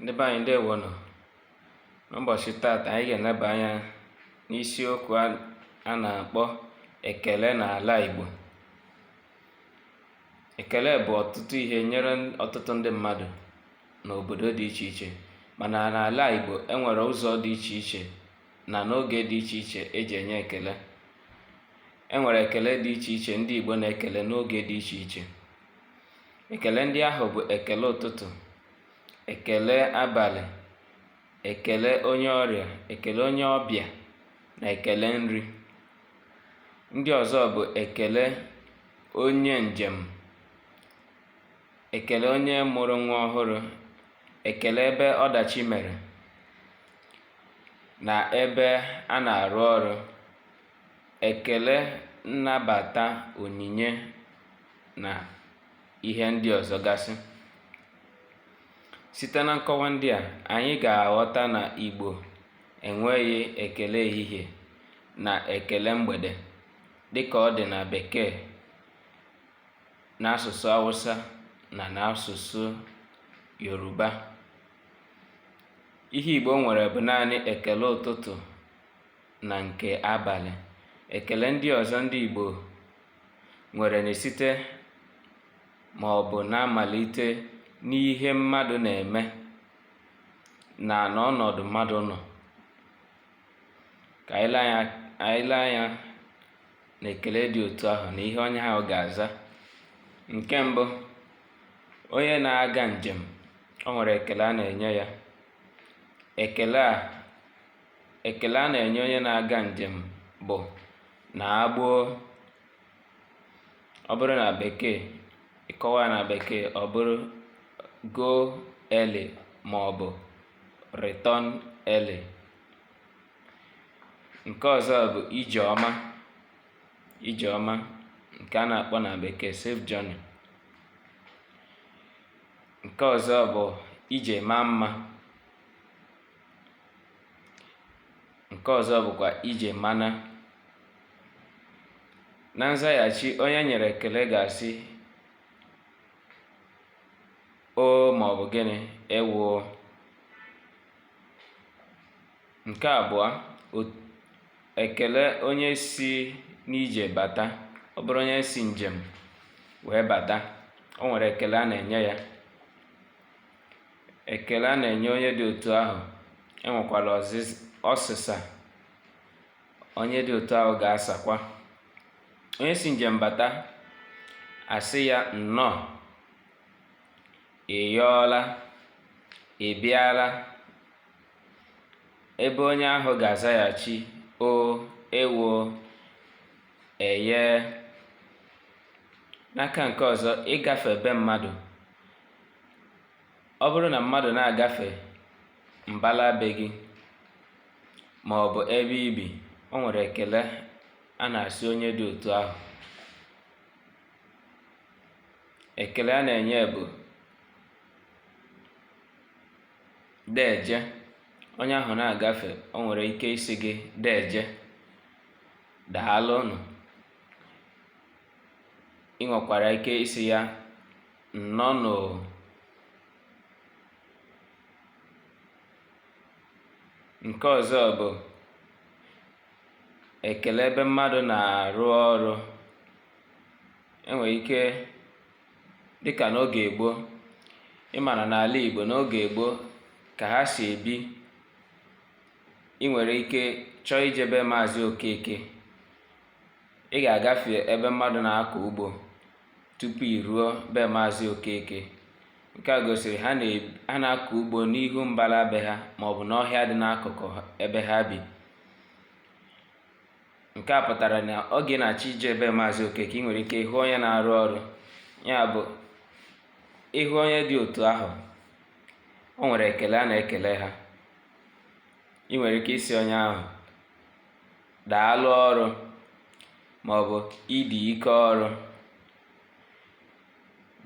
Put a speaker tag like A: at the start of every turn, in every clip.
A: ndị be anyị ndewo nụ n'ụbọchị taata anyị ga-eneba anya n'isiokwu a na-akpọ ekele n'ala Igbo ekele bụ ọtụtụ ihe nyere ọtụtụ ndị mmadụ n'obodo dị iche iche mana n'ala Igbo enwere ụzọ dị iche iche na n'oge dị iche iche eji enye ekele enwere ekele dị iche iche ndị Igbo na-ekele n'oge dị iche iche ekele ndị ahụ bụ ekele ụtụtụ ekele abalị ekele onye ọrịa ekele onye ọbịa na ekele nri ndị ọzọ bụ ekele onye njem ekele onye mụrụ nwa ọhụrụ ekele ebe ọdachi mere na ebe a na-arụ ọrụ ekele nnabata onyinye na ihe ndị ọzọ gasị site na nkọwa ndị a anyị ga-aghọta na igbo enweghị ekele ehihie na ekele mgbede dịka ọ dị na bekee n'asụsụ awụsa na n'asụsụ yoruba ihe igbo nwere bụ naanị ekele ụtụtụ na nke abalị ekele ndị ọzọ ndị Igbo nwere na-esite ma ọ bụ na-amalite n'ihe mmadụ na-eme na n'ọnọdụ mmadụ nọ ka anyị lee anya na ekele dị otu ahụ na ihe onye ahụ ga-aza nke mbụ onye na-aga njem o nwere ekele a na-enye ya ekele a ekele a na-enye onye na-aga njem bụ naa gboo ọ bụrụ na bekee ịkọwa na bekee ọ bụrụ go early ma ọ bụ return early nke ọzọ bụ ije ọma ije ọma nke a na-akpọ na bekee safe journey nke ọzọ bụ ije maa mma nke ọzọ bụkwa ije mana na nzaghachi onye enyere ekele ga-asị oo ma ọ bụ gịnị ewo nke abụọ ekele onye si n'ije bata ọ bụrụ onye si njem wee bata o nwere ekele a na-enye ya Ekele a na-enye onye dị otu ahụ enwekwala ọsịsa onye dị otu ahụ ga-asakwa. Onye si njem bata a sị ya nnọọ, ị yọọla, ị bịala. Ebe onye ahụ ga-azaghachi o ewo eye. N'aka nke ọzọ, ịgafe be mmadụ ọ bụrụ na mmadụ na-agafe mbala be gị ma ọ bụ ebe i bi o nwere ekele a na-asị onye dị otu ahụ ekele a na-enye bụ deeje onye ahụ na-agafe o nwere ike ịsị gị deeje daalụnụ ị nwekwara ike ịsị ya nnọọnụ nke ọzọ bụ ekele ebe mmadụ na-arụ ọrụ e nwere ike dịka n'oge gboo ị mara n'ala Igbo n'oge gboo ka ha si ebi ị nwere ike chọọ ije be Maazị Okeke ị ga-agafe ebe mmadụ na-akọ ugbo tupu i ruo be Maazị Okeke. Nke a gosiri ha na-akọ ugbo n'ihu mbala be ha maọbụ n'ọhịa dị n'akụkụ ebe ha bi. Nke a pụtara na oge ị na-achọ ije be Maazị Okeke, ị nwere ike ịhụ onye na-arụ ọrụ. Ya bụ, ị hụ onye dị otu ahụ, o nwere ekele a na-ekele ha. Ị nwere ike ịsị onye ahụ daalụ ọrụ maọbụ ị dị ike ọrụ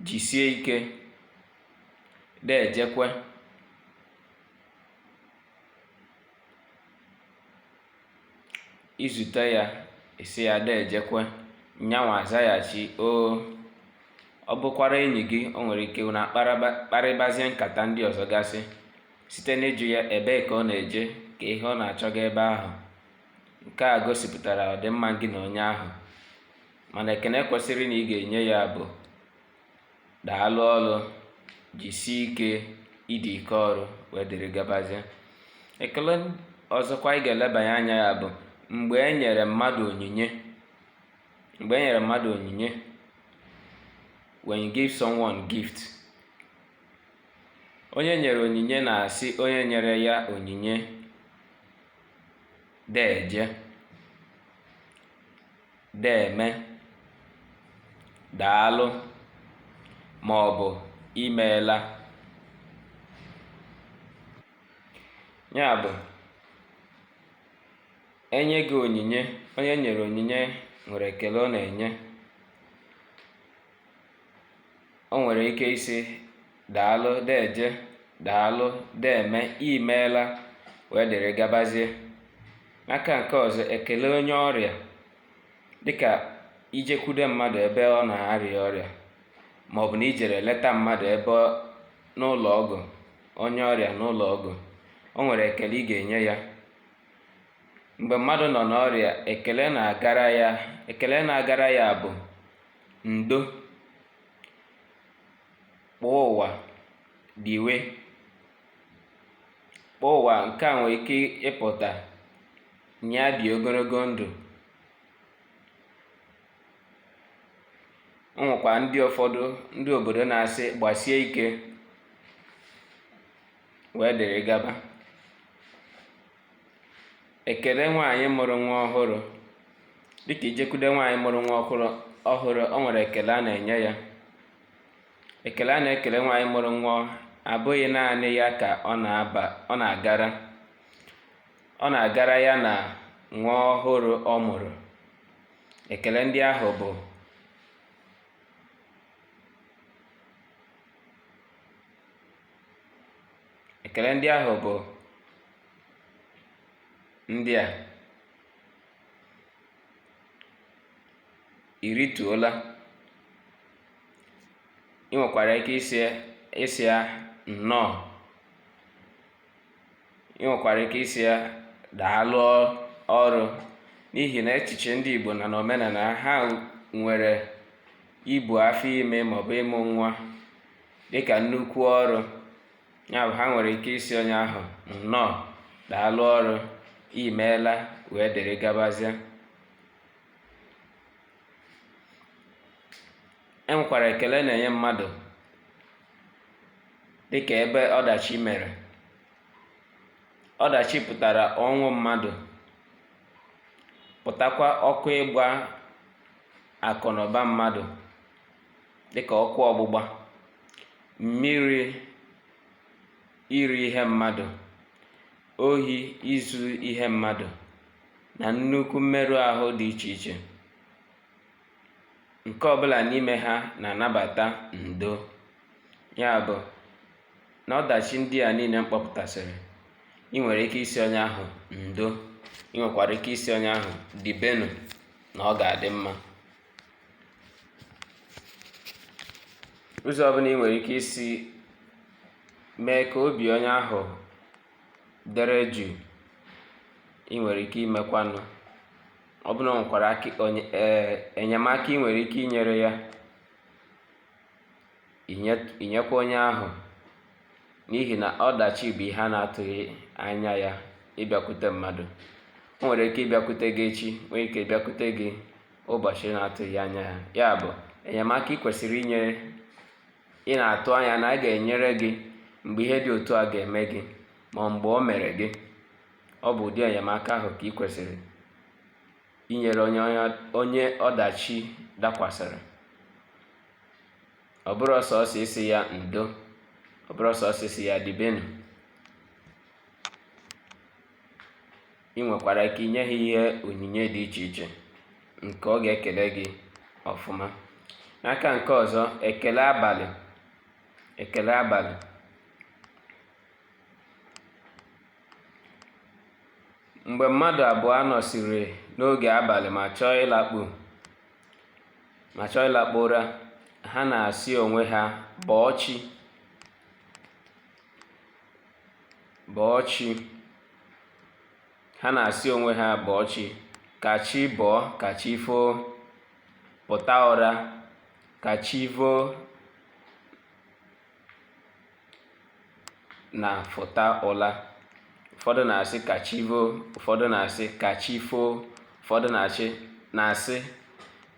A: jisie ike deejekwe i zute ya ị sị ya deejekwe nyanwa azaghachi o ọ bụkwara enyi gị o nwere ike unu akparịbazie nkata ndị ọzọ gasị Site n'ịjụ ya ebee ka ọ na-eje ka ihe ọ na-achọga ebe ahụ, nke a gosipụtara ọdịmma gị na onye ahụ, mana ekene kwesịrị na ị ga-enye ya bụ daalụ ọrụ, jisie ike, ị dị ike ọrụ wee dịrị gabazie. Ekele ọzọkwa ị ga-elebanye anya ya bụ mgbe e nyere mmadụ onyinye when you give someone gift onye e nyere onyinye na-asị onye nyere ya onyinye deeje deeme daalụ ma ọ bụ imeela ya bụ e nye gị onyinye onye e nyere onyinye nwere ekele ọ na-enye o nwere ike ịsị daalụ deeje daalụ deeme imeela wee dịrị gabazie n'aka nke ọzọ ekele onye ọrịa dịka i jekwude mmadụ ebe ọ na-arịa ọrịa ma ọ bụ na i jere ileta mmadụ ebe n'ụlọ ọgwụ onye ọrịa n'ụlọ ọgwụ o nwere ekele ị ga-enye ya mgbe mmadụ nọ n'ọrịa ekele na-agara ya bụ ndo kpọọ ụwa diwe kpọọ ụwa nke a nwere ike ịpụta nye ya dị ogologo ndụ o nwekwa ndị ụfọdụ ndị obodo na-asị gbasie ike wee dịrị gaba ekele nwaanyị mụrụ nwa ọhụrụ dịka i jekwude nwaanyị mụrụ nwa ọhụrụ o nwere ekele a na-enye ya ekele a na-ekele nwaanyị mụrụ nwa abụghị naanị ya ka ọ na-agara ọ na-agara ya na nwa ọhụrụ ọ mụrụ ekele ndị ahụ bụ ekele ndị ahụ bụ ndị a i rituola ị nwekwara ike ịsị ya nnọọ ị nwekwara ike ịsị ya daalụ ọrụ n'ihi na echiche ndị Igbo na n'omenala ha nwere ibu afọ ime maọbụ ịmụ nwa dịka nnukwu ọrụ ya bụ ha nwere ike ịsị onye ahụ nnọọ daalụ ọrụ imeela wee dịrị gabazie e nwekwara ekele a na-enye mmadụ dị ka ebe ọdachi mere ọdachi pụtara ọnwụ mmadụ pụtakwa ọkụ ịgba akụ na ụba mmadụ dị ka ọkụ ọgbụgba mmiri iri ihe mmadụ ohi izu ihe mmadụ na nnukwu mmerụ ahụ dị iche iche nke ọbụla n'ime ha na-anabata ndo ya bụ na ọdachi ndị a niile m kpọpụtasịrị ị nwere ike ịsị onye ahụ ndo ị nwekwara ike ịsị onye ahụ dibenụ na ọ ga-adị mma ụzọ ọbụla ị nwere ike isi mee ka obi onye ahụ dere jụụ ị nwere ike imekwanụ ọ bụrụ na o nwekwara enyemaka ị nwere ike inyere ya i nyekwa onye ahụ n'ihi na ọdachi bụ ihe a na-atụghị anya ya ịbịakwute mmadụ o nwere ike ịbịakwute gị echi nwee ike ịbịakwute gị ụbọchị ị na-atụghị anya ya ya bụ enyemaka ị kwesịrị inye ị na-atụ anya na a ga-enyere gị mgbe ihe dị otu a ga-eme gị ma mgbe o mere gị ọ bụ ụdị enyemaka ahụ ka ị kwesịrị inyere onye ọdachi dakwasịrị ọ bụrụ sọọsọ ịsị ya ndo ọ bụrụ sọọsọ ịsị ya dibenụ ị nwekwara ike inye ya ihe onyinye dị iche iche nke ọ ga-ekele gị ọfụma n'aka nke ọzọ ekele abalị ekele abalị mgbe mmadụ abụọ nọsịrị n'oge abalị ma chọọ ịlakpu ma chọọ ịlakpu ụra ha na-asị onwe ha bọọ chi bọọ chi ha na-asị onwe ha bọọ chi ka chi bọọ ka chi foo pụta ụra ka chi voo na fụta ụla ụfọdụ na-asị ka chi voo ụfọdụ na-asị ka chi foo ụfọdụ na-asị na-asị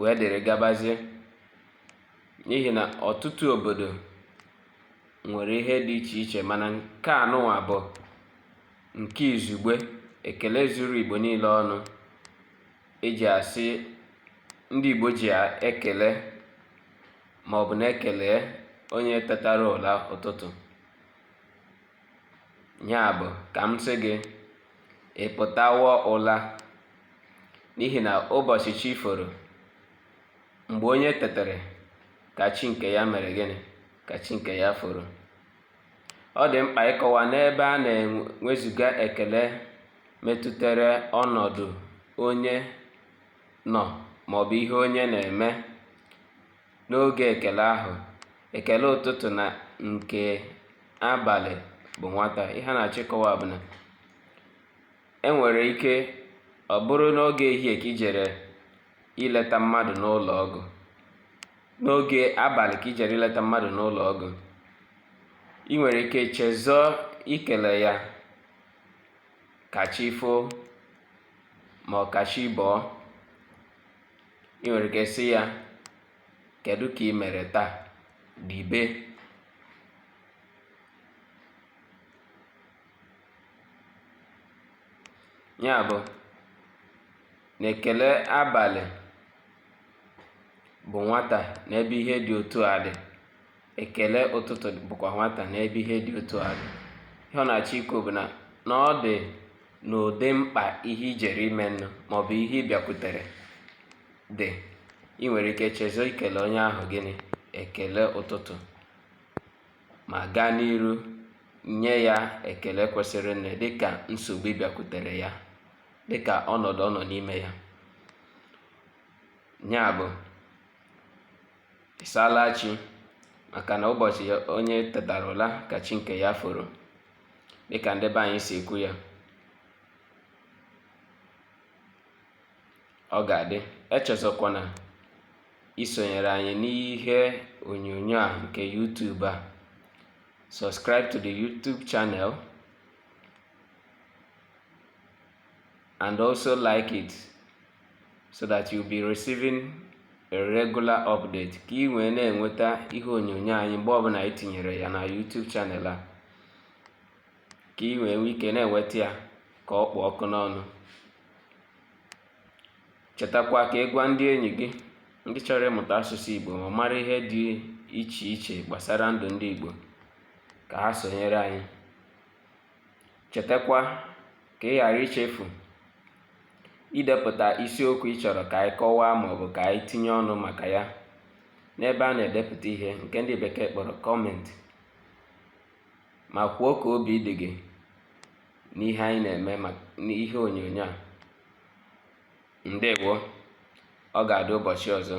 A: wee dịrị gabazie n'ihi na ọtụtụ obodo nwere ihe dị iche iche mana nke anụnwa bụ nke izugbe ekele zuru igbo niile ọnụ e ji asị ndị igbo ji ekele maọbụ na-ekele onye tetara ụla ụtụtụ Ya bụ, ka m sị gị, ị pụtawo ụla, n'ihi na ụbọchị chi foro, mgbe onye tetere, ka chi nke ya mere gịnị? Ka chi nke ya foro. Ọ dị mkpa ịkọwa n'ebe a na e wezuga ekele metụtara ọnọdụ onye nọ maọbụ ihe onye na-eme N'oge ekele ahụ, ekele ụtụtụ na nke abalị bụ nwata. Ihe a na-achọ ịkọwa bụ na e nwere ike ọ bụrụ n'oge ehihie ka i jere ileta mmadụ n'ụlọ ọgwụ, n'oge abalị ka i jere ileta mmadụ n'ụlọ ọgwụ, i nwere ike chezọọ ikele ya ka chi foo ma ọ ka chi bọọ. ị nwere ike sị ya kedu ka ị mere taa dibe ya bụ na ekele abalị bụ nwata n'ebe ihe dị otu a dị ekele ụtụtụ bụkwa nwata n'ebe ihe dị otu a dị ihe ọ na-achọ ikwu bụ na na ọ dị n'ụdị mkpa ihe i jere ime nụ maọbụ ihe ị bịakwutere dị ị nwere ike chezo ikele onye ahụ gịnị ekele ụtụtụ ma gaa n'iru nye ya ekele kwesịrịnụ dịka nsogbu bịakwutere ya dịka ọnọdụ ọ nọ n'ime ya ya bụ ị saala chi maka na ụbọchị onye tetara ụla ka chi nke ya foro dịka ndị be anyị si ekwu ya ọ ga-adị echezọkwana isonyere anyị n'ihe onyonyo a nke YouTube a subscribe to the YouTube channel and also like it so that you'll be receiving a regular update ka ị wee na-enweta ihe onyonyo anyị mgbe ọbụla anyị tinyere ya na YouTube channel a ka ị wee nwee ike na-enweta ya ka ọ kpụ ọkụ n'ọnụ chetakwa ka ị gwa ndị enyi gị ndị chọrọ ịmụta asụsụ Igbo ma mara ihe dị iche iche gbasara ndụ ndị Igbo ka ha sonyere anyị Chetakwa ka ị ghara ichefu idepụta isiokwu ị chọrọ ka anyị kọwaa maọbụ ka anyị tinye ọnụ maka ya n'ebe a na-edepụta ihe nke ndị bekee kpọrọ comment ma kwuo ka obi dị gị n'ihe anyị na-eme n'ihe onyonyo a. Ndewo! Ọ ga-adị ụbọchị ọzọ.